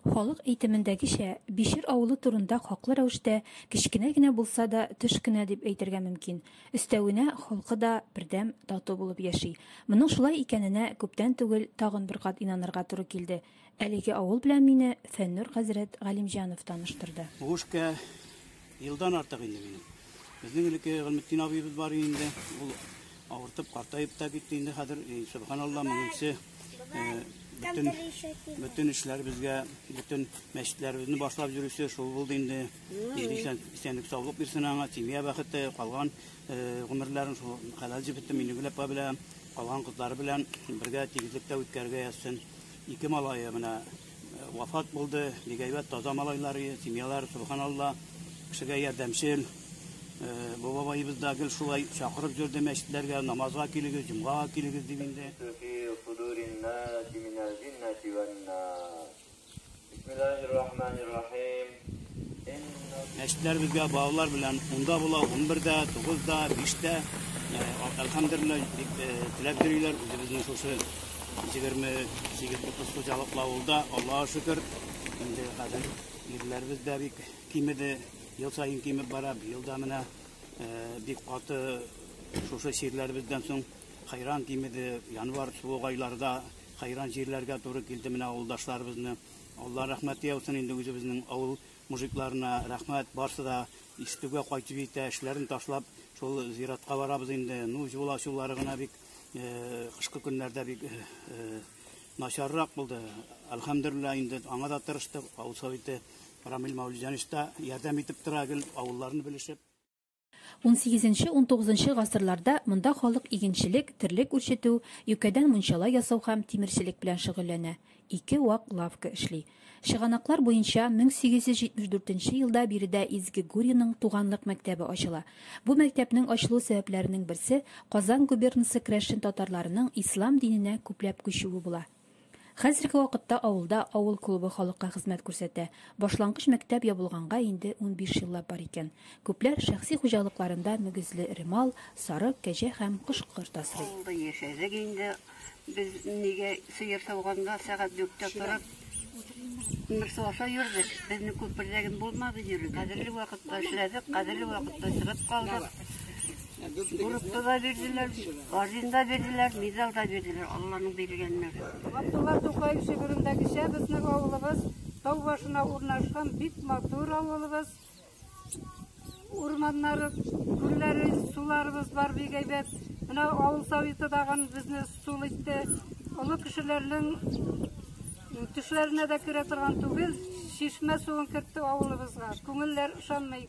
Халык әйтемендәгечә, Бишер авылы турында хаклы рәвештә кечкенә генә булса да төш кенә дип әйтергә мөмкин. Өстәвенә, халкы да бердәм, тату булып яши. Моның шулай икәненә күптән түгел тагын бер кат инанырга туры килде. Әлеге авыл белән мине Фәннүр хәзрәт Галимҗанов таныштырды. Гушкә. Елдан артык инде минем. Безнең элекке Гыйлметдин абыебыз бар инде. Ул авыртып, картаеп та китте инде хәзер. И, Субханалла, моңынчы бөтен бөтен эшләребезгә, бөтен мәчетләребезне башлап йөрүче шул булды инде. Ил исән, исәнлек саулык бирсен аңа, семья бәхете, калган гомерләрен шул хәләл җебетте Минегөл апа белән, калган кызлары белән бергә тигезлектә үткәрергә язсын. Ике малае менә Вафат булды, бик әйбәт, таза малайлар, семьялар, субханалла, кешегә ярдәмчел. Бу бабаебыз да гел шулай чакырып йөрде мәчетләргә, намазга килегез, җомгага килегез дип инде. Бисмиллаһир-рахманир-рахим. Мәчетләр безгә балалар белән унда була, унбердә, тугызда, биштә. Әлхәмдулилла, бик теләп йөриләр. Үзебезнең шушы егерме сигез утыз хуҗалыклы авылда, Аллага шөкер, инде хәзер ирләребез дә бик кимеде, ел саен кимеп бара. Быел да менә бик каты шушы чирләребездән соң хайран кимеде. Январь суык айларда хайран җирләргә туры килде менә авылдашларыбызны. Алла рәхмәте яусын инде үзебезнең авыл мужикларына. Рәхмәт, барсы да Истүгә кайтып җитә, эшләрен ташлап, шул зиратка барабыз инде. Ну, юл ачулары гына бик э, кышкы көннәрдә бик э, э, начаррак булды. Әлхәмдулилла, инде аңа да тырыштык. Авыл советы Рамил Мәүлиҗанович та ярдәм итеп тора, гел авылларны белешеп. Унсигезенче-унтугызынчы гасырларда монда халык игенчелек, терлек үрчетү, юкәдән мунчала ясау һәм тимерчелек белән шөгыльләнә. Ике вак лавка эшли. Чыганаклар буенча, 1874 нче елда биредә Изге Гурьеның туганлык мәктәбе ачыла. Бу мәктәпнең ачылу сәбәпләренең берсе, Казан губернасы крәшен татарларының ислам диненә күпләп күчүе була. Хәзерге вакытта авылда авыл клубы халыкка хезмәт күрсәтә. Башлангыч мәктәп ябылганга инде унбиш еллап бар икән. Күпләр шәхси хуҗалыкларында мөгезле эре мал, сарык, кәҗә һәм кош-корт асрый. Авылда яшәдек инде без, нигә сыер сауганда сәгать дүрттә торып, күмер суарса йөрдек. Безнең күп бердә генә булмады йөрү. Кадерле вакытта эшләдек, кадерле вакытта чыгып калдык. Группа да бирделәр, орден да бирделәр, медаль да бирделәр, Алланың биргәннәр. Габдулла Тукаев шигырендәгечә безнең авылыбыз тау башына урнашкан бик матур авылыбыз. Урманнары, күлләре, суларыбыз бар бик әйбәт. Менә авыл советы дагын безне сул итте. Олы кешеләрнең төшләренә дә керә торган түгел, чишмә суын кертте авылыбызга. Күңелләр ышанмый.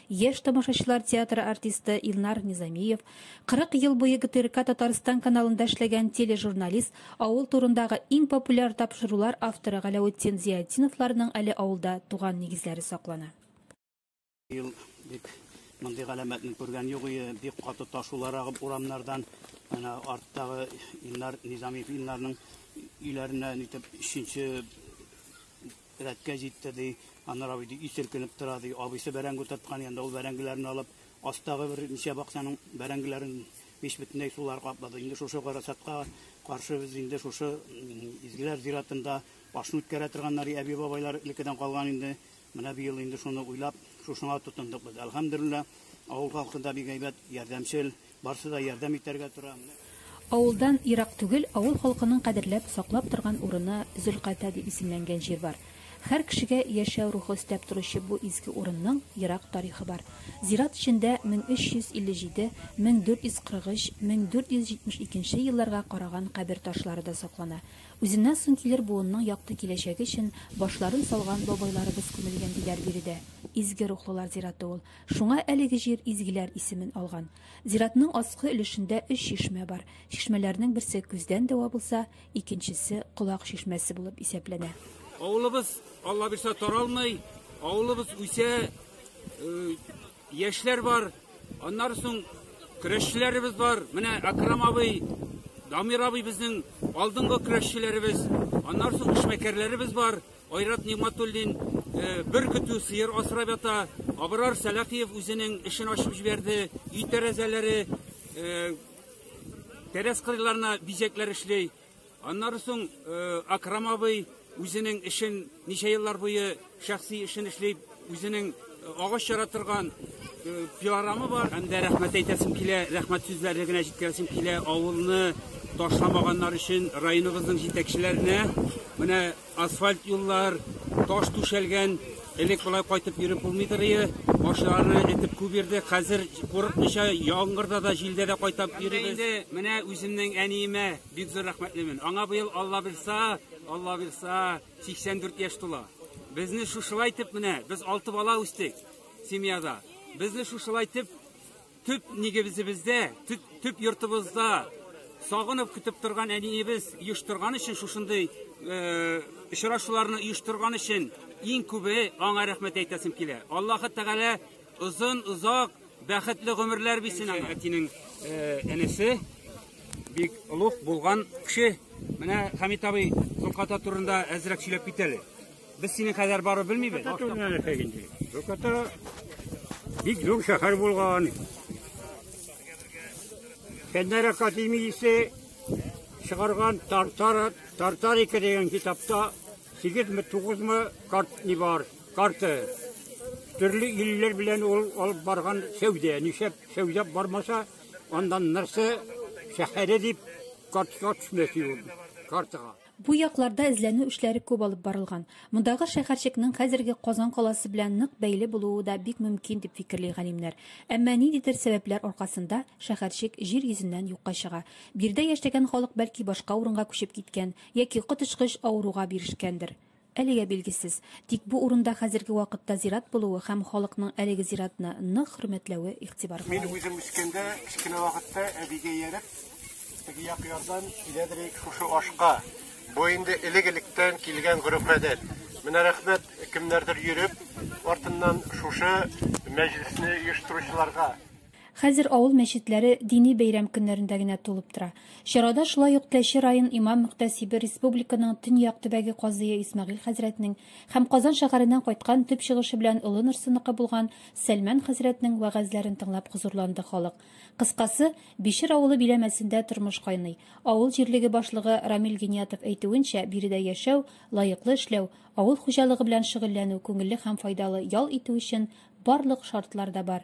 Яшь тамашачылар театры артисты Илнар Низамиев, 40 ел буе ГТРК Татарстан каналында эшләгән тележурналист, авыл турындагы иң популяр тапшырулар авторы Галәветдин Зиятдиновларның әле авылда туган нигезләре саклана. Ел дип мондый галәмәтне күргән юк ие, бик каты ташулар агып урамнардан, әнә арттагы Илнар Низамиев Илнарның өйләренә нитеп өченче Рәткә җитте, ди. Аннары абый, ди, өй селкенеп тора, ди. Абыйсы бәрәңге утырткан янда ул бәрәңгеләрен алып, астагы бер ничә бакчаның бәрәңгеләрен мич бөтенләй сулар каплады. Инде шушы гарасатка каршы без инде шушы Изгеләр зиратында башны үткәрә торганнар, ди, әби-бабайлар элеккедән калган инде. Менә быел инде шуны уйлап, шушыңа тотындык без. Әлхәмдүлилләһ, авыл халкы да бик әйбәт, ярдәмчел. Барсы да ярдәм итәргә тора. Авылдан ерак түгел авыл халкының кадерләп, саклап торган урыны Зөлката дип исемләнгән җир бар. Хәр кешегә яшәү рухы өстәп торучы бу изге урынның ерак тарихы бар. Зират эчендә 1357, 1443, 1472 елларга караган кабер ташлары да саклана. Үзеннән соң килер буынның якты киләчәге өчен башларын салган бабайларыбыз күмелгән, диләр биредә. Изге рухлылар зираты ул. Шуңа әлеге җир изгеләр исемен алган. Зиратның аскы өлешендә өч чишмә бар. Чишмәләрнең берсе көздән дәва булса, икенчесе колак чишмәсе булып исәпләнә. Авылыбыз Алла бирса таралмый, авылыбыз үсә, яшьләр бар, аннары соң көрәшчеләребез бар. Менә Акрам абый, Дамир абый безнең алдынгы көрәшчеләребез, аннары соң эшмәкәрләребез бар. Айрат Нигъмәтуллин бер көтү сыер асрап ята. Абрар Сәлахиев үзенең эшен ачып җибәрде. Өй тәрәзәләре, тәрәз кырыйларына бизәкләр эшли. Аннары соң Акрам абый үзенең эшен ничә еллар буе шәхси эшен эшли, үзенең агач чара торган пилорамы бар. Һәм дә рәхмәт әйтәсем килә, рәхмәт сүзләре генә җиткерәсем килә авылны ташламаганнар өчен районыбызның җитәкчеләренә. Менә Асфальт юллар, таш түшәлгән, элек болай кайтып йөреп булмыйдыр ие. Машиналарны этеп күп йөрдек, хәзер курыкмыйча яңгырда да, җилдә дә кайтап йөрибез. Инде менә үземнең әниемә бик зур рәхмәтлемен. Аңа быел Алла бирса, Алла бирса 84 яшь тула. Безне шушылай итеп менә, без алты бала үстек семьяда. Безне шушылай итеп Төп нигебезебездә, төп, төп йортыбызда сагынып көтеп торган әниебез оештырган өчен шушындый э, очрашуларны оештырган өчен иң күбе аңа рәхмәт әйтәсем килә. Аллаһы Тәгалә озын, озак, бәхетле гомерләр бирсен аңа. Әтинең э, энесе бик олуг булган кеше. Менә Хамит абый Зулката турында әзрәк сөйләп китәле. Без синең кадәр барып белмибез. Башта түгел нәрсә инде. Бөкәтә бик зур шәһәр булган. Кәннәре Катимисе чыгарган Тартар Тартарика дигән китапта 8-ме 9-ме карт ни бар, карты. Төрле илләр белән ул алып барган сәүдә, нишәп сәүдә бармаса, андан нәрсә шәһәре дип картка төшмәси ул картага. Бу якларда эзләнү эшләре күп алып барылган. Мондагы шәһәрчекнең хәзерге Казан каласы белән нык бәйле булуы да бик мөмкин, дип фикерли галимнәр. Әмма ниндидер сәбәпләр аркасында шәһәрчек җир йөзеннән юкка чыга. Биредә яшәгән халык бәлки башка урынга күчеп киткән яки коточкыч авыруга бирешкәндер. Әлегә билгесез. Тик бу урында хәзерге вакытта зират булуы һәм халыкның әлеге зиратны нык хөрмәтләве игътибар Мин кагыйдь. үзем үскәндә, кечкенә вакытта әбигә ияреп, теге як ярдан киләдер идек шушы ашка. Бу инде элек-электән килгән гореф-гадәт. Менә рәхмәт кемнәрдер йөреп, артыннан шушы мәҗлесне оештыручыларга. Хәзер авыл мәчетләре дини бәйрәм көннәрендә генә тулып тора. Чарада шулай ук Теләче район имам-мөхтәсибе, республиканың төньяк төбәге казые Исмәгыйль хәзрәтнең һәм Казан шәһәреннән кайткан, төп чыгышы белән Олы Норсыныкы булган Сәлмән хәзрәтнең вәгазьләрен тыңлап хозурланды халык. Кыскасы, Бишер авылы биләмәсендә тормыш кайный. Авыл җирлеге башлыгы Рамил Гениятов әйтүенчә, биредә яшәү, лаеклы эшләү, авыл хуҗалыгы белән шөгыльләнү, күңелле һәм файдалы ял итү өчен барлык шартлар да бар.